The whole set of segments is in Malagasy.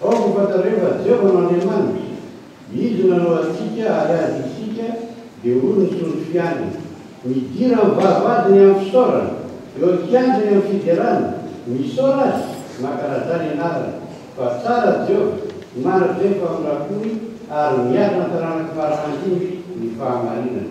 Ao no fantatreo fa Jehovah no Andriamanitra. Izy no nanao antsika ary azy isika dia hoy ny Sortr Fianany, Midira amin'ny vavahadiny amin'ny fisaorana, eo an-kianjany amin'ny fiderana, misaora Azy, mankalazà ny anarany. Fa tsara Jehovah, manatra efa amin'ny rakony ary miatrà ny taranak'i Farà handimby ny fahamarinany.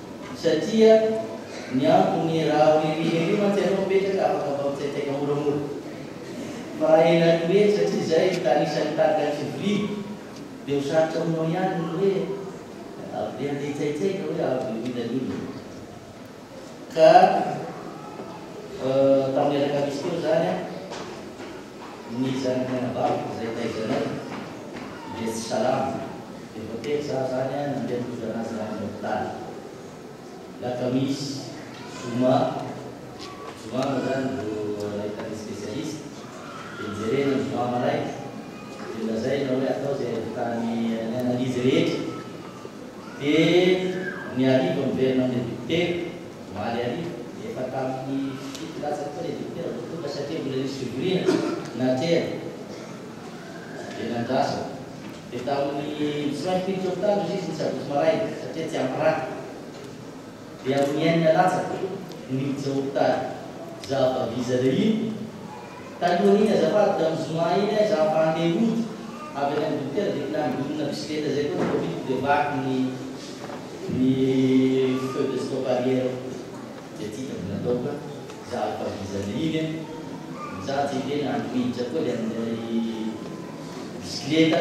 Satria ny antony raha hoe miherihery mantsy ianao mipetraka afaka mifampitsaitsaika moramora. Fa raha ela no mihery satria izay no tany isan'ny tarika ny fivoriana dia ho sarotra aminao ihany ny hoe avy dia handeha hitsaitsaika hoe avy dia ho inona ny olana. Ka tamin'ny alakamisy teo izany ny zanaky ny anabaviko izay taizanay dia tsy salama. Efa telo za zany a nandeha tojo anazy zany ny hopitaly. Lakamisy, zoma, zoma moa zany vao nahita ny specialiste, de nijerena ny zoma maraina, de nolazaina hoe atao zay ahitany ny analyse rehetra, de ny hariva miverina amle dokotera, omaly hariva, de efa taminy fito latsaka teo le dokotera vao tonga satria mbola nisy fivoriana naterina, de nandrasako. Dia tamin'ny tsy maintsy miditra hopitaly hozy izy ny sabotsy maraina satria tsy ampy rà. Dia amin'ny enina latsaka no niditra hopitaly. Za avy aviza le iny? Talohan'iny azafady tamin'ny zoma iny ay za fa handeha hody avy any amin'ny dokotera dia nangonina bisikileta zay koa ny covid-ko dia vaky ny ny feu de stop arrière. Dia tia ka mbola atao ka za ato avy iza le iny an! Mijaly tsy eke na miditra koa le amin'ilay bisikileta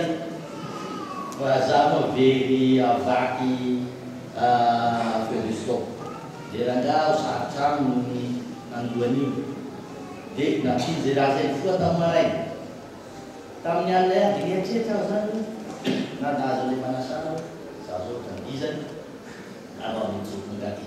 fa za moa very havaky feu de stop le rangahy aho sarotra aminy ny handoa an'io. Dia nampiany ze raha zay nifoha tamin'ny maraina. Tamin'ny alina ihany dia nieritreritra aho zany hoe na nahazo an'ilay manasana aho za zao ka vizana na vao avy nijoro tonga aty.